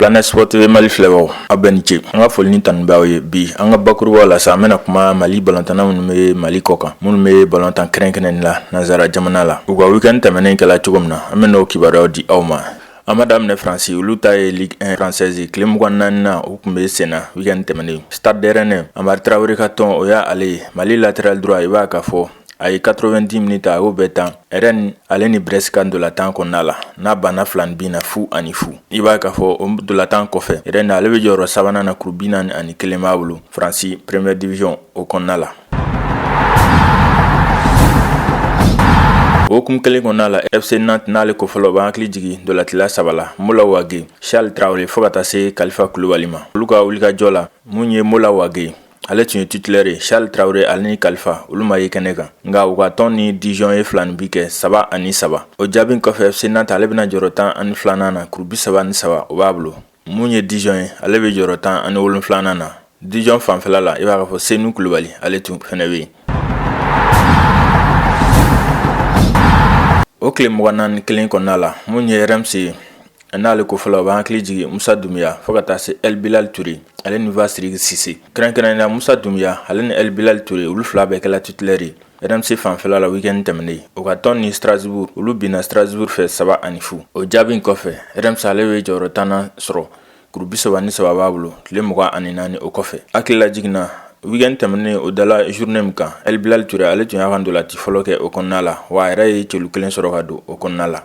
Planet Sport TV Mali filɛbagaw aw bɛɛ ni ce an ka foli ni tanu b'aw ye bi an ka bakuruba la sa an bɛna kuma Mali balontanna minnu bɛ Mali kɔ kan minnu bɛ balontan kɛrɛnkɛrɛnnen la nanzara jamana la u ka weekend tɛmɛnen kɛla cogo min na an bɛn'o kibaruyaw di aw ma an b'a daminɛ faransi olu ta ye ligue un française tile mugan ni naaninan o tun bɛ senna weekend tɛmɛnen stade de rennes hamari tarawele ka tɔn o y'a ale ye mali latéral droit i b'a ka fɔ a ye quatre-vingt-dix minutes a y'o bɛɛ tan rennes ale ni brest ka ntolantan kɔnɔna la n'a banna filanin bin na fu ani fu i b'a ka fɔ o ntolantan kɔfɛ rennes ale bɛ jɔyɔrɔ sabanan na kuru bi naani ani kelen b'a bolo faransi première division o kɔnɔna la o hukumu kelen kɔnɔna la fc nantes n'ale kofɔla b'an hakili jigin ntolatila saba la mola wage charles tarawele fo ka taa se kalifa kulubali ma olu ka wulikajɔ la mun ye mola wage ale tun ye titulaire ye charles tarawele ale ni kalifa olu ma ye kɛnɛ kan nka u ka tɔn ni dijon ye filanin bin kɛ saba ani saba o jaabi kɔfɛ fc nantes ale bɛna jɔrɔ tan ani filanan na kuru bi saba ni saba o b'a bolo mun ye dijon ye ale bɛ jɔyɔrɔ tan ani wolonfilanan na dijon fanfɛla la i b'a ka fɔ senu kulubali ale tun fɛnɛ bɛ yen o tile mugan ni naani kelen kɔnɔna la mun ye reims ye n'ale kofɔla b'an hakili jigin musa dumuya fo ka taa se el bilal toure ale ni fasiriki sise kɛrɛnkɛrɛnnenya musa dumuya ale ni el bilal toure olu fila bɛɛ kɛla titulaire reims fanfɛla la weekend tɛmɛnen u ka tɔn ni strasbourg olu binna strasbourg fɛ saba ani fu o jaabi kɔfɛ reims ale bɛ jɔyɔrɔ tannan sɔrɔ kuru bi saba ni saba b'a bolo tile mugan ani naani o kɔfɛ hakililajigin na weekend tɛmɛnen o dala journée min kan el bilal ture ale tun y'a ka ntolati fɔlɔ kɛ o kɔnɔna la wa a yɛrɛ ye celu kelen sɔrɔ ka don o kɔnɔna la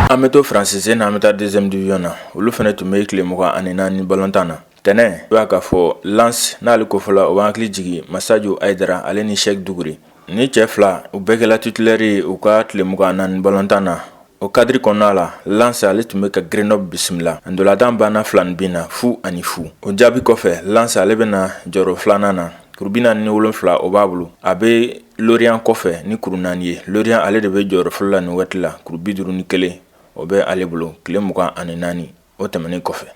an bɛ to faransi sen na an bɛ taa deuxième division na olu fɛnɛ tun bɛ tile mugan ani naani balontan na Tɛnɛn i b'a ka fɔ lens n'ale kofɔla o b'an hakili jigin massadio haidara ale ni cheick dugure nin cɛ fila u bɛɛ kɛla titulaire ye u ka tile mugan ni naani balontan na o kadiri kɔnɔna la lens ale tun bɛ ka grenoble bisimila a ntolatan banna filanin bin na fu ani fu o jaabi kɔfɛ lens ale bɛna jɔyɔrɔ filanan na kuru bi naani ni wolonfila o b'a bolo a bɛ lorient kɔfɛ ni kuru naani ye lorient ale de bɛ jɔyɔrɔ fɔlɔ la nin waati la kuru bi duuru ni kelen o bɛ ale bolo tile mugan ani naani o tɛmɛnen kɔfɛ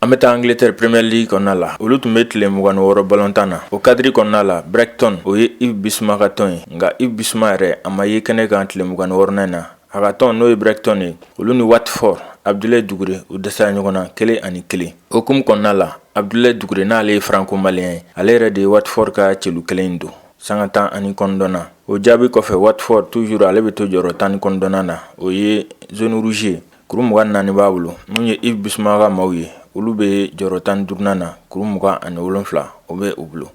an bɛ taa angleterre premier league kɔnɔna la olu tun bɛ tile mugan ni wɔɔrɔ balontan na o kadiri kɔnɔna la brighton o ye yves bisuma ka tɔn ye nka yves bisuma yɛrɛ a ma ye kɛnɛ kan tile mugan ni wɔɔrɔnan na a ka tɔn n'o ye brighton ye olu ni watford abdulayi dugure u dɛsɛra ɲɔgɔn na kelen ani kelen o hukumu kɔnɔna la abdulayi dugure n'ale ye franco-malien ye ale yɛrɛ de ye watford ka celu kelen don Sanga tan ani kɔnɔntɔn na o jaabi kɔfɛ Watford toujours ale bɛ to jɔyɔrɔ tan ni kɔnɔntɔn na o ye zone rouge kuru mugan ni naani b'a bolo min ye Yves Bissouma ka maaw ye olu bɛ jɔyɔrɔ tan ni duuru na kuru mugan ani wolonfila o bɛ u bolo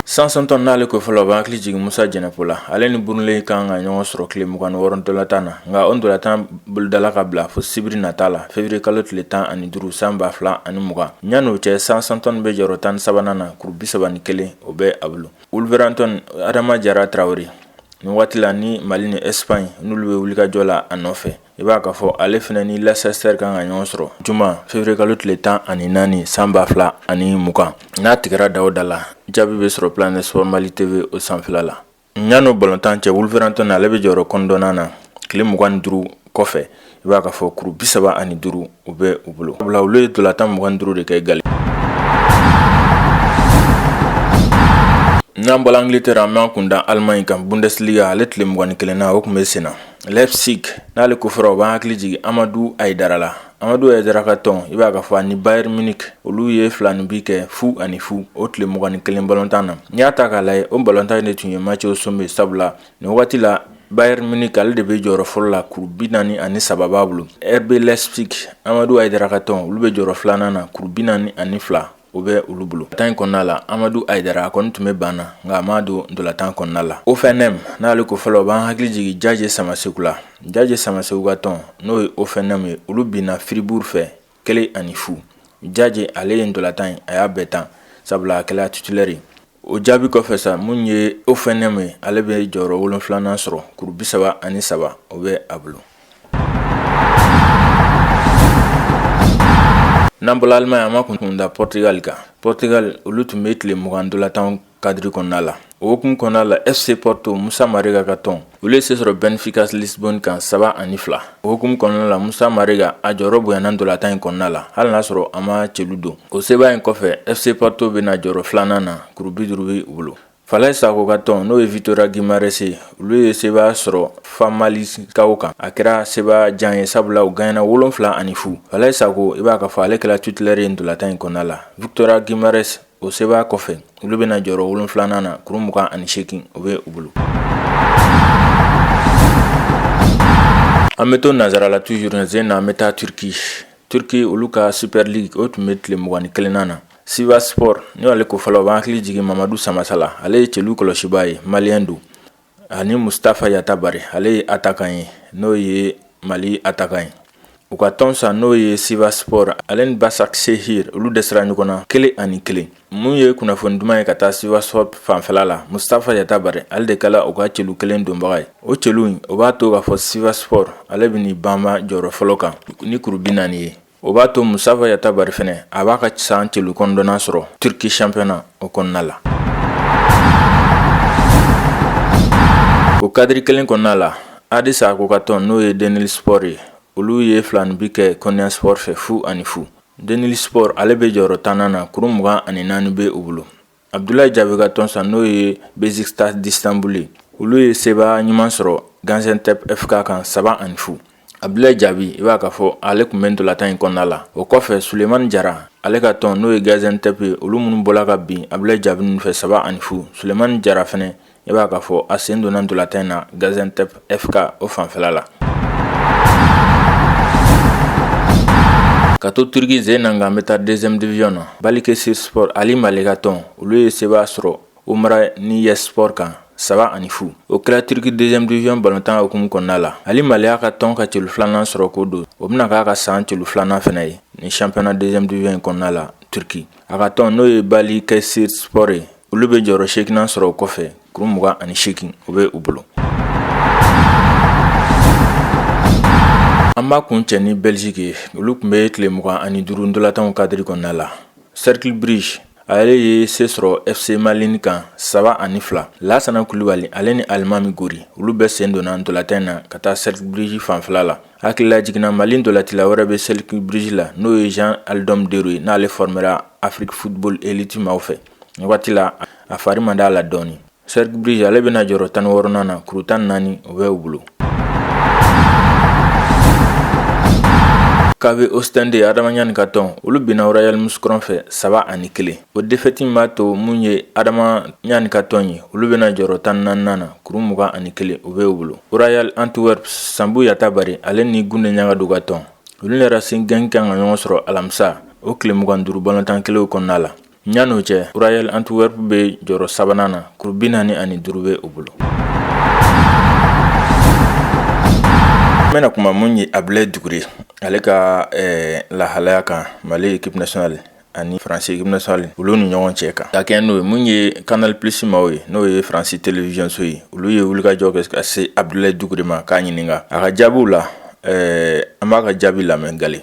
Southampton n'ale kofɔla o b'an hakili jigin musa jɛnɛpo la ale ni Burnley kan ka ɲɔgɔn sɔrɔ tile mugan ni wɔɔrɔ ntolatan na nka o ntolatan bolodala ka bila fo sibiri nata la février kalo tile tan ani duuru san ba fila ani mugan yann'o cɛ Southampton bɛ jɔyɔrɔ tan ni sabanan na kuru bi saba ni kelen o bɛ a bolo Wolverhampton adama jara Traoré nin waati la ni mali ni Espagne n'olu bɛ wulikajɔ la a nɔfɛ i b'a ka fɔ ale fana ni Leicester kan ka ɲɔgɔn sɔrɔ juma février kalo tile tan ani naani san ba fila ani mugan n'a tigɛra da o da la jaabi bɛ sɔrɔ Planète Sport mali TV o sanfɛla la Yann'o balɔntan cɛ Wolverhampton ale bɛ jɔyɔrɔ kɔnɔntɔnnan na tile mugan ni duuru kɔfɛ i b'a ka fɔ kuru bi saba ani duuru o bɛ u bolo sabula olu ye ntolatan mugan ni duuru de kɛ galen n'an bɔla Angleterre an b'an kun da Allemagne kan Bundesliga ale tile mugan ni kelennan o tun bɛ sen na Leipzig n'ale kofɔra o b'an hakili jigin amadu ayidara la amadu ayidara ka tɔn i b'a ka fɔ ani Bayern Munich olu ye filaninbin kɛ fu ani fu o tile mugan ni kelen balɔntan na n'i y'a ta k'a lajɛ o balɔntan de tun ye match au sommet sabula nin wagati la Bayern Munich ale de bɛ jɔyɔrɔ fɔlɔ la kuru bi naani ani saba b'a bolo RB Leipzig amadu ayidara ka tɔn olu bɛ jɔyɔrɔ filanan na kuru bi naani ani fila o bɛ olu bolo ntolatan in kɔnɔna la amadu ayidara a kɔni tun bɛ banc na nka a ma don ntolatan kɔnɔna la Hoffenheim n'ale kofɔla o b'an hakili jigin jaje samaseku la jaje samaseku ka tɔn n'o ye Hoffenheim ye olu binna Fribourg fɛ kelen ani fu jaje ale ye ntolatan in a y'a bɛɛ tan sabula a kɛla titulaire o jaabi kɔfɛ sa min ye Hoffenheim ye ale bɛ jɔyɔrɔ wolonfilanan sɔrɔ kuru bi saba ani saba o bɛ a bolo n'an bɔla Allemagne an b'an kun da Portugal kan Portugal olu tun bɛ tile mugan ntolatan kadiri kɔnɔna la o hukumu kɔnɔna la FC Porto musa marega ka tɔn olu ye se sɔrɔ Benfica Lisbonne kan saba ani fila o hukumu kɔnɔna la musa marega a jɔyɔrɔ bonyana ntolatan in kɔnɔna la hali n'a sɔrɔ a ma celu don o seba in kɔfɛ FC Porto bɛ na jɔyɔrɔ filanan na kuru bi duuru b'u bolo falayi sako ka tɔn n'o ye Vitoria Guimaraes ye olu ye seba sɔrɔ Famalicao kan a kɛra seba jan ye sabula u ganyena wolonfila ani fu falayi sako i b'a ka fɔ ale kɛra titulaire ye ntolatan in kɔnɔna la Vitoria Guimaraes o seba in kɔfɛ olu bɛna jɔyɔrɔ wolonfilanan na kuru mugan ani seegin o bɛ u bolo an bɛ to nansarala toujours n'an bɛ taa turiki turiki olu ka Super Lig o tun bɛ tile mugan ni kelennan na Sivasspor n'ale kofɔla o b'an hakili jigin mamadu samasa la ale ye celu kɔlɔsibaa ye malien don ani mustafa yatabare ale ye attaquant ye n'o ye mali attaquant ye u ka tɔn san n'o ye sivasspor ale ni basaksehir olu dɛsɛra ɲɔgɔn na kelen ani kelen mun ye kunnafoni duman ye ka taa sivasspor fanfɛla la mustafa yatabare ale de kɛra u ka celu kelen donbaga ye o celu in o b'a to k'a fɔ sivasspor ale bɛ n'i banba jɔyɔrɔ fɔlɔ kan ni kuru bi naani ye o b'a to mustafa yatabare fɛnɛ a b'a ka san celu kɔnɔntɔnnan sɔrɔ turki championnat o kɔnɔna la o kadiri kelen kɔnɔna la hadi sacko ka tɔn n'o ye denizlispor ye olu ye filaninbin kɛ konyaspor fɛ fu ani fu denizlispor ale bɛ jɔyɔrɔ tannan na kuru mugan ani naani bɛ u bolo abdulayi jaabi ka tɔn san n'o ye besiktas d'istanbul ye olu ye sebaa ɲuman sɔrɔ gaziantep fk kan saba ani fu abdulayi jaabi i b'a ka fɔ ale tun bɛ ntolatan in kɔnɔna la o kɔfɛ sulemani jara ale ka tɔn n'o ye gaziantep ye olu minnu bɔra ka bin abdulayi jaabi ninnu fɛ saba ani fu sulemani jara fɛnɛ i b'a k'a fɔ a sen donna ntolatan in na gaziantep fk o fanfɛla la ka to turiki jamana kan an bɛ taa deuxième division na balikesirspor ali male ka tɔn olu ye sebaa sɔrɔ umraniyespor kan saba ani fu o kɛra turiki deuxième division balontan hukumu kɔnɔna la ali male y'a ka tɔn ka celu filanan sɔrɔ k'o don o bɛna k'a ka san celu filanan fɛnɛ ye ni championnat deuxième division in kɔnɔna la turki a ka tɔn n'o ye balikesirspor ye olu bɛ jɔyɔrɔ seeginnan sɔrɔ o kɔfɛ kuru mugan ani seegin o bɛ u bolo an b'a kun cɛ ni bɛliziki ye olu tun bɛ tile mugan ani duuru ntolatanw kadiri kɔnɔna la cercle brugge ale ye se sɔrɔ fc malines kan saba ani fila lasana kulubali ale ni alimami gori olu bɛɛ sen donna ntolatan in na ka taa cercle brugge fanfɛla la hakililajigin na mali ntolatila wɛrɛ bɛ cercle brugge la n'o ye jean aldom deuro ye n'ale formera afrique football elite maaw fɛ nin waati la a fari man d'a la dɔɔnin cercle brugge ale bɛna jɔyɔrɔ tan ni wɔɔrɔnan na kuru tan ni naani o bɛ u bolo kv ostende adama ɲani ka tɔn olu binna royal mouscron fɛ saba ani kelen o defɛti b'a to mun ye adama ɲani ka tɔn ye olu bɛna jɔyɔrɔ tan ani naaninan na kuru mugan ani kelen o bɛ u bolo royal antwerp sanbu yatabare ale ni gunde ɲagadu ka tɔn olu ni racing genk kan ka ɲɔgɔn sɔrɔ alamisa o tile mugan ni duuru balontan kelenw kɔnɔna la Yanni o cɛ Royal Antwerp bɛ jɔyɔrɔ sabanan na kuru 45 bɛ u bolo. An bɛna kuma mun ye Abdulayi Dukure ale ka lahalaya kan Mali equipe nationale ani France equipe nationale olu ni ɲɔgɔn cɛ kan ka kɛɲɛ n'o ye mun ye canal plus maaw ye n'o ye France télévision so ye olu ye wulikajɔ kɛ ka se Abdulayi Dukure ma k'a ɲininka a ka jaabiw la an b'a ka jaabi lamɛn gale.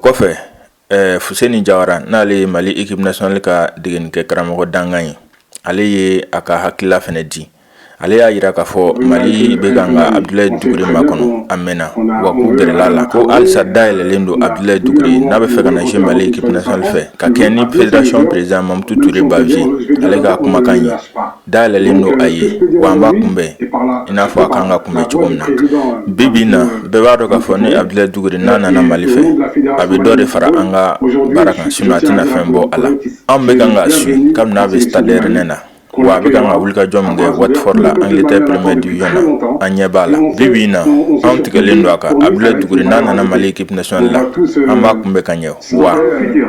kɔfɛ fuseni jawara n'ale ye mali équipe nationale ka degenikɛ karamɔgɔ dankan ye ale ye a ka hakilila fana di ale y'a jira k'a fɔ mali bɛ kan ka abdulayi dukure makɔnɔ a mɛnna wa k'u gɛrɛla a la ko halisa da yɛlɛlen don abdulayi dukure n'a bɛ fɛ ka na se mali équipe nationale fɛ ka kɛɲɛ ni fédération président mamutu ture bavieux ale ka kumakan ye Da yɛlɛlen don a ye wa an b'a kunbɛn i n'a fɔ a kan ka kunbɛn cogo min na bi bi na bɛɛ b'a dɔn k'a fɔ ni abdulayi dukure n'a nana mali fɛ a bɛ dɔ de fara an ka baara kan sinon a tɛna fɛn bɔ a la an bɛ kan ka suivre kabini a bɛ stade rennais na wa a bɛ kan ka wulikajɔ min kɛ watford la angleterre première division na an ɲɛ b'a la bi bi na anw tigɛlen don a kan abdulayi dukure n'a nana mali équipe nationale la an b'a kunbɛn ka ɲɛ wa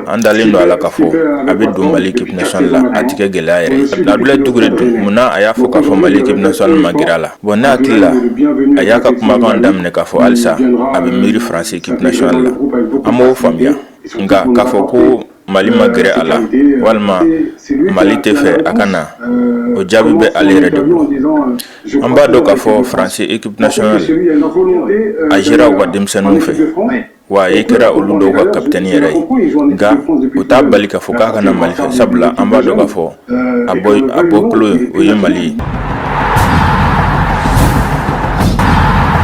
an dalen don a la k'a fɔ a bɛ don mali équipe nationale la a tɛ kɛ gɛlɛya yɛrɛ ye abdulayi dukure dun mun na a y'a fɔ k'a fɔ mali équipe nationale ma gɛrɛ a la bon ne hakili la a y'a ka kumakan daminɛ k'a fɔ halisa a bɛ miiri faransi équipe nationale la an b'o faamuya nka k'a fɔ ko mali ma gɛrɛ a la walima mali tɛ fɛ a ka na o jaabi bɛ ale yɛrɛ de bolo an b'a dɔn k'a fɔ faransi équipe nationale a jouera u ka denmisɛnninw fɛ wa a kɛra olu dɔw ka kapiteni yɛrɛ ye nka o t'a bali k'a fɔ k'a ka na mali fɛ sabula an b'a dɔn k'a fɔ a bɔ a bɔkolo ye o ye mali ye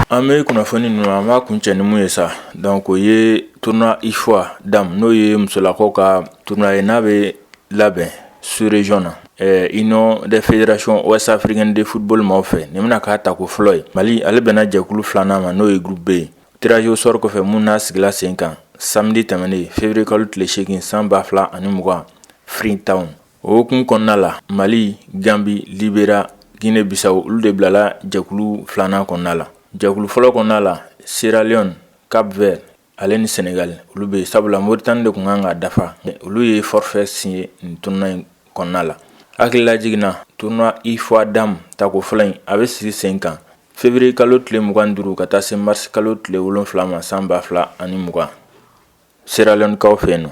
an bɛ kunnafoni ninnu an b'a kuncɛ ni mun ye sa donc o ye tournoi ufoa dames n'o ye musolakaw ka tournoi ye n'a bɛ labɛn sous région na Eh, union des fédérations ouest africaine de football maaw fɛ nin bɛna k'a tako fɔlɔ ye mali ale bɛnna jɛkulu filanan ma n'o ye groupe b ye Tirage au sort kɔfɛ min n'a sigila sen kan samedi tɛmɛnen février kalo tile seegin san ba fila ani mugan freetown o hukumu kɔnɔna la mali ganbi liberia ginɛ bisawo olu de bilala jɛkulu filanan kɔnɔna la jɛkulu fɔlɔ kɔnɔna la sierra leone cap vert ale ni sɛnɛgali olu bɛ yen sabula moritani de kun kan ka dafa olu ye forfait signé nin tournoi in kɔnɔna la hakili lajigin na tournoi ufoa dames tako fɔlɔ in a bɛ sigi sen kan Février kalo tile mugan duuru ka taa se marisi kalo tile wolonwula ma san ba fila ani mugan sierra leone kaw fɛ yen nɔ